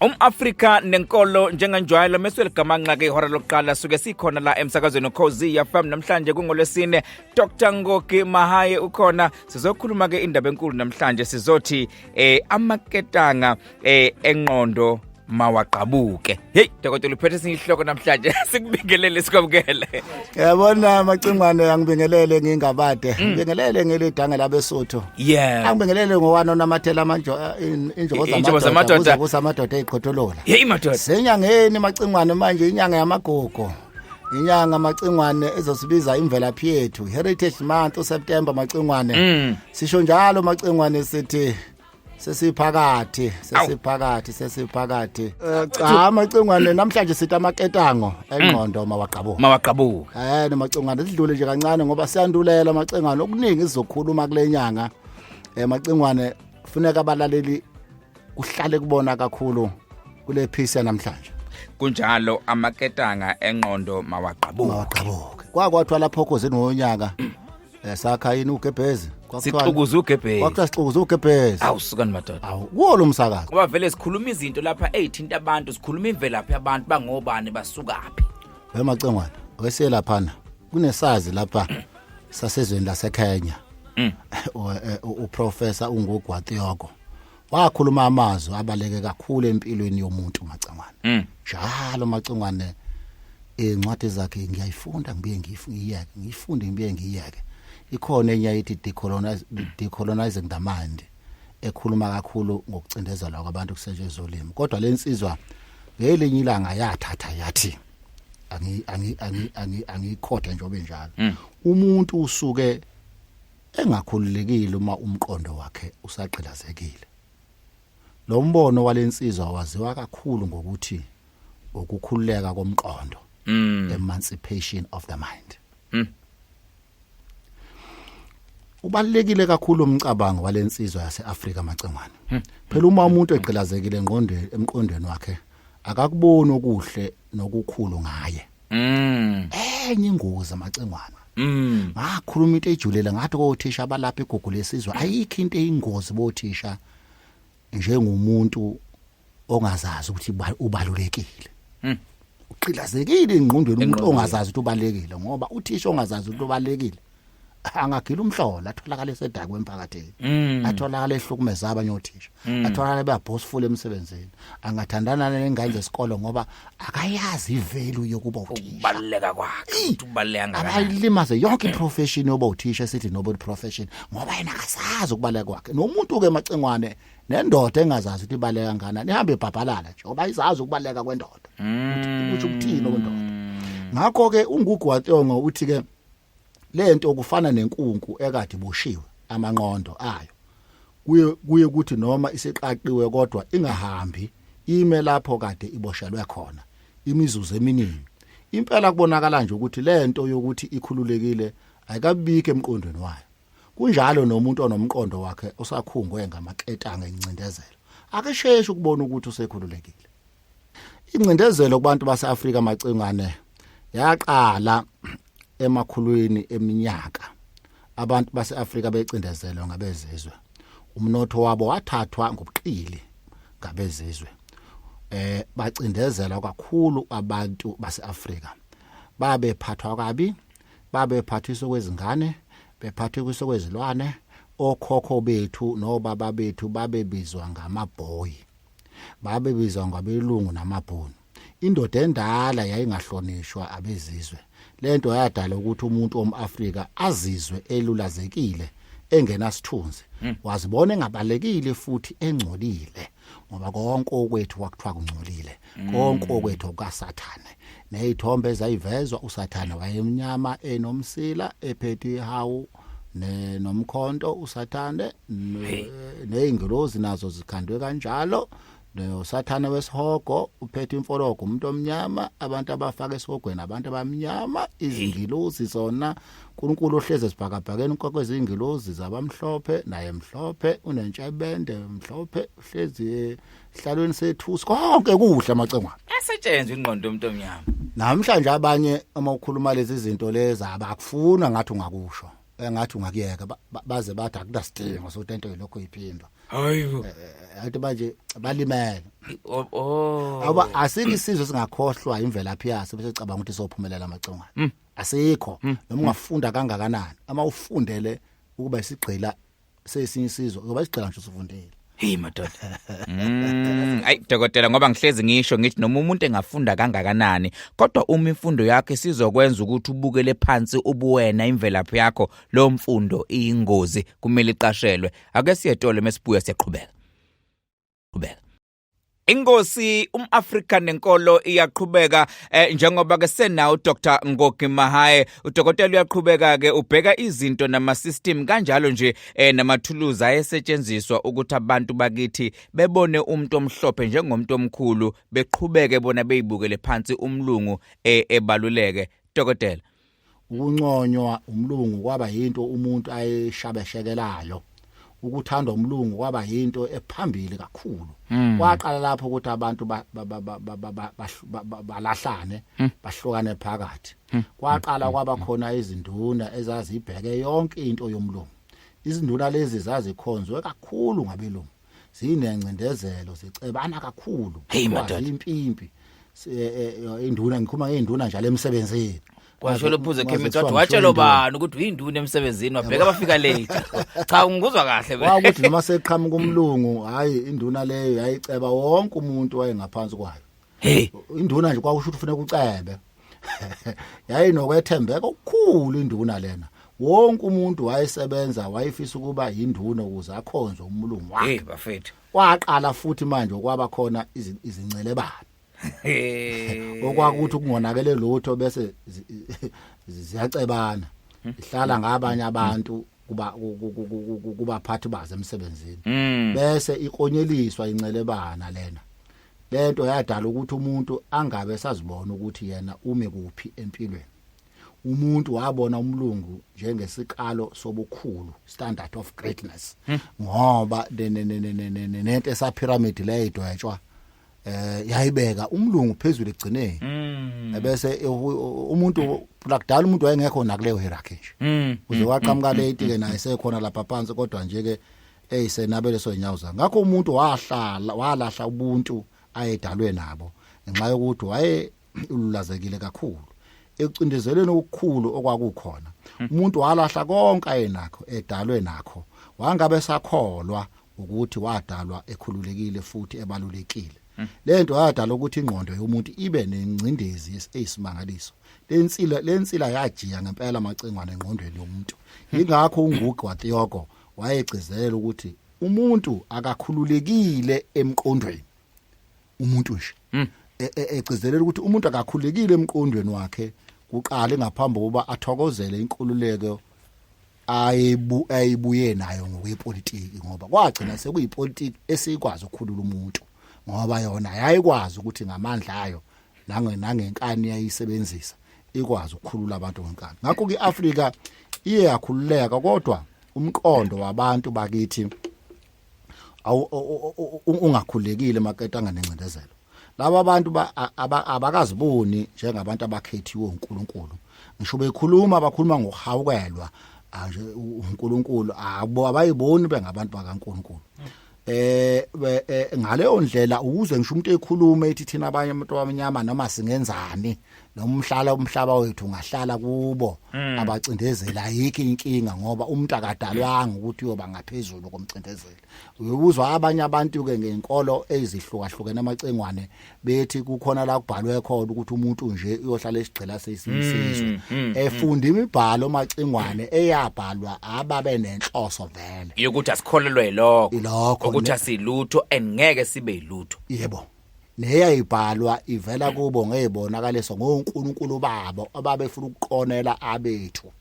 um-afrika nenkolo njenganjwayelo mesweligamanxa ke ihora lokuqala suke sikhona la emsakazweni ukhozi yafam namhlanje kungolwesine dr ngoki mahaye ukhona sizokhuluma ke indaba enkulu namhlanje sizothi eh amaketanga eh enqondo mawagqabuke hey dokotela uphethe esinye isihloko namhlanje sikubingelele sikwamukele yabona macingwane angibingelele ngingabade mm. ngibingelele ngelidanga labesuthu yeah angibingelele ngowani onamathela amanjo injobo zamadoda ukuze amadoda eqhotholola hey madoda senyangeni macingwane manje inyanga yamagogo inyanga macingwane ezosibiza imvelaphi yethu heritage month useptember macingwane mm. sisho njalo macingwane sithi sesiphakathi sesiphakathi sesiphakathi Eh, cha macingwane namhlanje sithi amaketango engqondo Mm. mawaqabuka mawaqabuka Eh nomacingwane sidlule nje kancane ngoba siyandulela amacingwane okuningi sizokhuluma kule nyanga. Eh macingwane kufuneka abalaleli kuhlale kubona kakhulu kule piece namhlanje. kunjalo amaketanga enqondo mawaqabuka Mawaqhabuke. Kwakwathwa lapho khozini wonyaka Eh, sakha yini ugebhezi sixukuza ugebhezi kwakuthiwa sixukuza ugebhezi awu sukani madoda awu kuwo lo msakazo ngoba vele sikhuluma izinto lapha eyithinta abantu sikhuluma imvelaphi yabantu bangobani basukaphi wemacengwana weselaphana kunesazi lapha sasezweni laseKenya mm. eh, uprofessor ungugwatiyoko wakhuluma amazwi abaleke kakhulu empilweni yomuntu macangwane mm. njalo macangwane incwadi zakhe ngiyayifunda ngibuye ngiyifike ngiyifunde ngibuye ngiyeke ikhona enye ayithi decolonize decolonizing the mind ekhuluma kakhulu ngokucindezelwa kwabantu kusetshenzwa ulimi kodwa lensizwa ngelinye ilanga yathatha yathi angi angi angi angi angikhotha njobe njalo mm. umuntu usuke engakhululekile uma umqondo wakhe usagqilazekile. Lo mbono walensizwa waziwa kakhulu ngokuthi ukukhululeka komqondo, Mm. emancipation of the mind. Mm. Ubalekile kakhulu umcabango walensizwa yaseAfrika macengwane. Phela uma umuntu egqilazekile engqondweni emqondweni wakhe akakuboni okuhle nokukhulu ngaye. Mm. Enye ingozi amacengwana. Mm. Ngakhuluma into ejulela ngathi kothisha abalapha igugu lesizwe ayikho into eyingozi bothisha njengomuntu ongazazi ukuthi ubalulekile. Mm. Uqilazekile ingqondweni umuntu ongazazi ukuthi ubalekile ngoba uthisha ongazazi ukuthi ubalekile. angagila umhlola atholakala esedakwe emphakathini mm. atholakala ehlukumeza abanye othisha mm. atholakala beabhosifula emsebenzini angathandana nengane zesikole ngoba akayazi ivelu yokuba uthisha ukubaleka kwakhe ukubaleka ngakho abayilimaze yonke iprofession yoba uthisha sithi nobo profession ngoba yena akasazi ukubaleka kwakhe nomuntu ke macengwane nendoda engazazi ukuthi ibaleka ngana nihambe ibhabhalala nje ngoba izazi ukubaleka kwendoda mm. ukuthi ukuthini okwendoda ngakho ke ungugu waTongo uthi ke lento kufana nenkunku ekade iboshiwe amanqondo ayo kuye kuye ukuthi noma isiqaqiwe kodwa ingahambi ime lapho kade iboshelwe khona imizuzu eminingi impela kubonakala nje ukuthi lento yokuthi ikhululekile ayikabike emqondweni wayo kunjalo nomuntu onomqondo wakhe osakhungwe ngamaketanga encindezelo akesheshi ukubona ukuthi usekhululekile Incindezelo kubantu baseAfrika macingane yaqala emakhulwini eminyaka. Abantu baseAfrika becindezelwe ngabezizwe. Umnotho wabo wathathwa ngobuqili ngabezizwe. Eh bacindezelwa kakhulu abantu baseAfrika. Babephathwa kabi, babephathiswa kwezingane, bephathiswa kwezilwane, okhokho bethu nobaba bethu babebizwa ngamabhoyi. babebizwa ngabelungu namabhunu indoda endala yayingahlonishwa abezizwe lento yadala ukuthi umuntu omAfrika azizwe elulazekile engenasithunzi hmm. wazibona engabalekile futhi engcolile ngoba konke okwethu kwakuthiwa kungcolile hmm. konke okwethu kukasathane nezithombe ezayivezwa usathane wayemnyama enomsila ephethe ihawu ne nomkhonto usathane nezingilozi nazo zikhandwe kanjalo nosathane wesihogo uphethe imfologo umuntu omnyama abantu abafaka esihogweni abantu abamnyama izingilozi zona uNkulunkulu ohleze esibhakabhakeni kwakwezingilozi zabamhlophe naye mhlophe unentshebende mhlophe uhlezi hlalweni sethusi konke kuhle amacengwana esetshenzwe ingqondo yomuntu omnyama namhlanje abanye uma ukhuluma lezi zinto lezi abakufuna ngathi ungakusho engathi eh, ungakuyeka baze bathi akunasidingo sokuthi into yilokho iphindwa hayibo eh, eh, athi manje balimele oh, oh. awuba asike isizwe singakhohlwa imvelaphi yaso bese cabanga ukuthi sophumelela amacongwana hmm. asikho hmm. noma ungafunda kangakanani ama ufundele ukuba isigqila sesinye isizwe ngoba isigcila nje usufundile Hey madoda. Mm, ay dokotela ngoba ngihlezi ngisho ngithi noma umuntu engafunda kangakanani kodwa uma imfundo yakho isizokwenza ukuthi ubukele phansi ubuwena imvelaphi yakho lo mfundo iyingozi kumele iqashelwe ake siyetole mesibuya siyaqhubeka. Qhubeka. Inkosi umAfrika nenkolo iyaqhubeka eh, njengoba ke senawo Dr Ngogi Mahaye udokotela uyaqhubeka ke ubheka izinto nama system kanjalo nje eh, namathuluzi ayesetshenziswa ukuthi abantu bakithi bebone umuntu omhlophe njengomuntu omkhulu beqhubeke bona beyibukele phansi umlungu eh, ebaluleke dokotela ukunconywa umlungu kwaba yinto umuntu ayeshabeshekelayo ukuthandwa umlungu kwaba yinto ephambili kakhulu hmm. kwaqala lapho ukuthi abantu balahlane hmm. bahlukane phakathi hmm. kwaqala kwaba khona izinduna ezazibheke yonke into yomlungu izinduna lezi zazikhonzwe kakhulu ngabelungu zinencindezelo zicebana kakhulu Hey, madoda. Kwazi impimpi Se- eh, eh, induna ngikhuluma ngeinduna njalo emsebenzini Washo lophuze Waze Kemit kuthiwa wathi watshelo ngishondile. bani ukuthi uyinduna emsebenzini wabheka abafika late. Cha ngikuzwa kahle mina. wakuthi noma seqhamuka umlungu hayi induna leyo yayiceba wonke umuntu wayengaphansi kwayo hey induna nje kwakusho ukuthi ufuneka ucebe yayinokwethembeka okukhulu induna lena wonke umuntu wayesebenza wayefisa ukuba yinduna ukuze akhonze umlungu wakhe hey bafethu kwaqala futhi manje kwaba khona izincelebane okwakuthi kungonakele lutho bese ziyacebana hmm. ihlala ngabanye abantu kuba kubaphathi baze emsebenzini hmm. bese ikonyeliswa incelebana lena Lento yadala ukuthi umuntu angabe sazibona ukuthi yena ume kuphi empilweni. Umuntu wabona umlungu njengesikalo sobukhulu, standard of greatness. Hmm. Ngoba nento esa pyramid le idwetshwa eh yayibeka umlungu phezulu egcineni. Hmm. Ebese umuntu lakudala umuntu wayengekho nakuleyo hierarchy nje. Hmm. Uze waqhamuka late ke naye sekhona lapha phansi kodwa nje ke hey senabele sozinyawo zami ngakho umuntu wahlala walahla ubuntu ayedalwe nabo ngenxa yokuthi waye ululazekile kakhulu ekucindezelweni okukhulu okwakukhona hmm. umuntu walahla konke ayenakho edalwe nakho wangabe sakholwa ukuthi wadalwa ekhululekile futhi ebalulekile hmm. lento yadala ukuthi ingqondo yomuntu ibe nengcindezi eyisimangaliso lensila lensila yajiya ngempela amacingwane engqondweni yomuntu ingakho ungugu waThiyoko wayegcizelela ukuthi umuntu akakhululekile emqondweni umuntu nje hmm. e, e, egcizelela ukuthi umuntu akakhululekile emqondweni wakhe kuqale ngaphambi kokuba athokozele inkululeko ayibu ayibuye nayo ngokwepolitiki ngoba kwagcina hmm. sekuyipolitiki esikwazi ukukhulula umuntu ngoba yona yayikwazi ukuthi ngamandla ayo nangenkani yayisebenzisa ikwazi ukukhulula abantu ngonkana ngakho ke Africa iye yakhululeka kodwa umqondo wabantu bakithi ungakhulekile maketanga nengcindezelo laba abantu abakaziboni njengabantu abakhethiwe uNkulunkulu ngisho bekhuluma bakhuluma ngokuhawukelwa nje uNkulunkulu abo abayiboni bengabantu bakaNkulunkulu eh, eh, eh ngaleyo ndlela ukuze ngisho umuntu ekhuluma ethi thina abanye abantu abamnyama noma singenzani nomhlala umhlaba wethu ungahlala kubo mm. abacindezela ayikho inkinga ngoba umuntu akadalwanga ukuthi uyoba ngaphezulu komcindezeli uyuzwa abanye abantu ke ngenkolo ezihlukahlukene amacengwane bethi kukhona la kubhalwe khona ukuthi umuntu nje uyohlala esigcela sesinsizwa mm, mm, mm. efunda imibhalo macingwane eyabhalwa ababe nenhloso vele yokuthi asikholelwe lokho ukuthi asilutho and ngeke sibe yilutho yebo neyayibhalwa ivela kubo ngezibonakaliso ngoNkulunkulu babo ababefuna ukuqonela abethu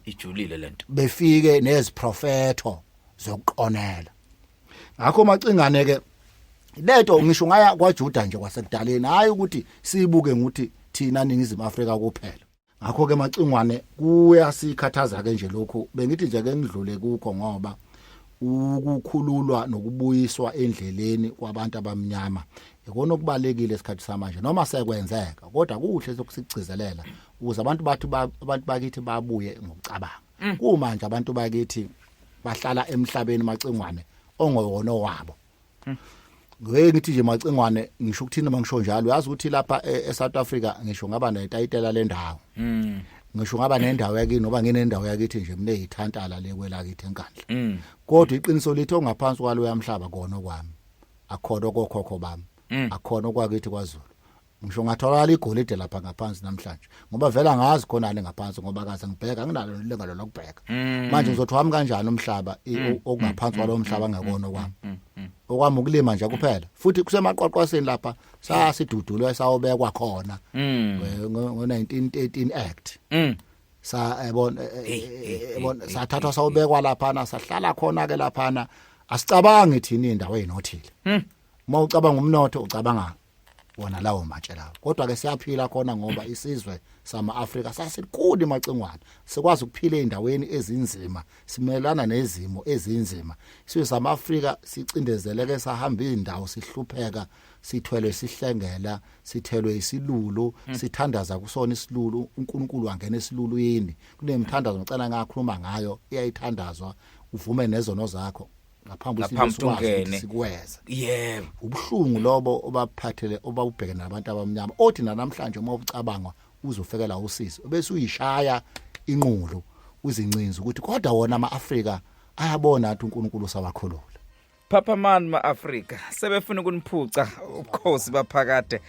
ijulile lento befike neziprofetho zokuqonela ngakho macingane ke lento ngisho ngaya kwaJuda nje kwasekudaleni hayi ukuthi siyibuke nguthi thina ningizimu Afrika kuphela ngakho ke macingwane kuyasikhathaza ke nje lokhu bengithi nje ke ngidlule kukho ngoba ukukhululwa nokubuyiswa endleleni kwabantu abamnyama ikona okubalekile esikhathi samanje noma sekwenzeka kodwa kuhle sokusigcizelela ukuze abantu bathu abantu bakithi babuye ngokucabanga mm. kumanje abantu bakithi bahlala emhlabeni macingwane ongowona wabo mm. ngeke ngithi nje macingwane ngisho ukuthini uma ngisho njalo uyazi ukuthi lapha e-, eSouth Africa ngisho ngaba netayitela lendawo mm. ngisho ngaba nendawo yakini ngoba nginendawo yakithi nje mina yithantala le kwelakithi enkandla mm. kodwa iqiniso lithi ongaphansi kwalo yamhlaba kona kwami akhona kokhokho bami mm. akhona kwakithi kwaZulu ngisho ngatholakala igolide lapha ngaphansi namhlanje ngoba vela ngazi khona le ngaphansi ngoba kaze ngibheka nginalo lengalo lokubheka mm. manje ngizothi wami kanjani umhlaba mm. okungaphansi kwalo mm. mhlaba ngakona okwami okwami ukulima nje kuphela futhi kusemaqwaqwaseni lapha sasidudulwe sawobekwa khona ngo 1913 act sa ebon eh, eh, eh, ebon sathathwa sawobekwa lapha na sahlala khona ke lapha na asicabangi thina indawo enothile uma ucabanga umnotho ucabanga wona lawo matshe lawo kodwa ke siyaphila khona ngoba isizwe sama Africa sasikhulu emacingwane sikwazi ukuphila endaweni ezinzima simelana nezimo ezinzima isizwe sama Africa sicindezeleke sahamba izindawo sihlupheka sithwelwe sihlengela sithelwe isilulu hmm. sithandaza kusona isilulu uNkulunkulu wangena esilulwini kunemthandazo ngicela ngakhuluma ngayo iyayithandazwa uvume nezono zakho ngaphambi ngaphambi tungene sikweza yebo ubuhlungu lobo obaphathele obabubheke nabantu abamnyama othi namhlanje uma ucabanga uzofekela usisi bese uyishaya inqulu uzincinza ukuthi kodwa wona amaAfrika ayabona athi uNkulunkulu sabakhulula Papa man maAfrika sebefuna ukuniphuca ubukhosi baphakade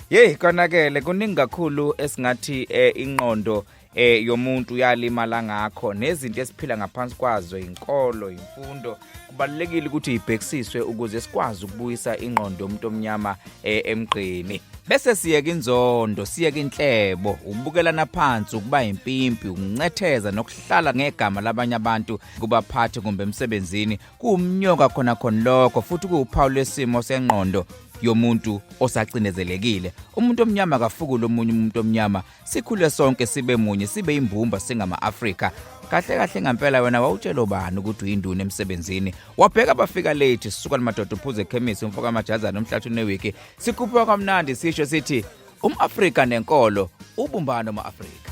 Hey konakele kuningi kakhulu esingathi eh, inqondo eh yomuntu uyalimala ngakho nezinto esiphila ngaphansi kwazo inkolo imfundo kubalekile ukuthi ibhekisiswe ukuze sikwazi ukubuyisa ingqondo yomuntu omnyama eh, emgqini bese siyeke inzondo siyeke inhlebo ukubukelana phansi ukuba impimpi ukuncetheza nokuhlala ngegama labanye abantu kubaphathi kumbe emsebenzini kuwumnyoka khona khona lokho futhi kuwuphawu lwesimo sengqondo yomuntu osacinezelekile umuntu omnyama akafukule omunye umuntu omnyama sikhule sonke sibe munye sibe imbumba singama-afrika kahle kahle ngempela wena wawutshela ubani ukuthi uyinduna emsebenzini wabheka bafika late sisuka limadoda uphuze ekhemisi umfoka amajazana umhlathi unewiki sikhuphuka kwamnandi sisho sithi um-afrika nenkolo ubumbano ma-afrika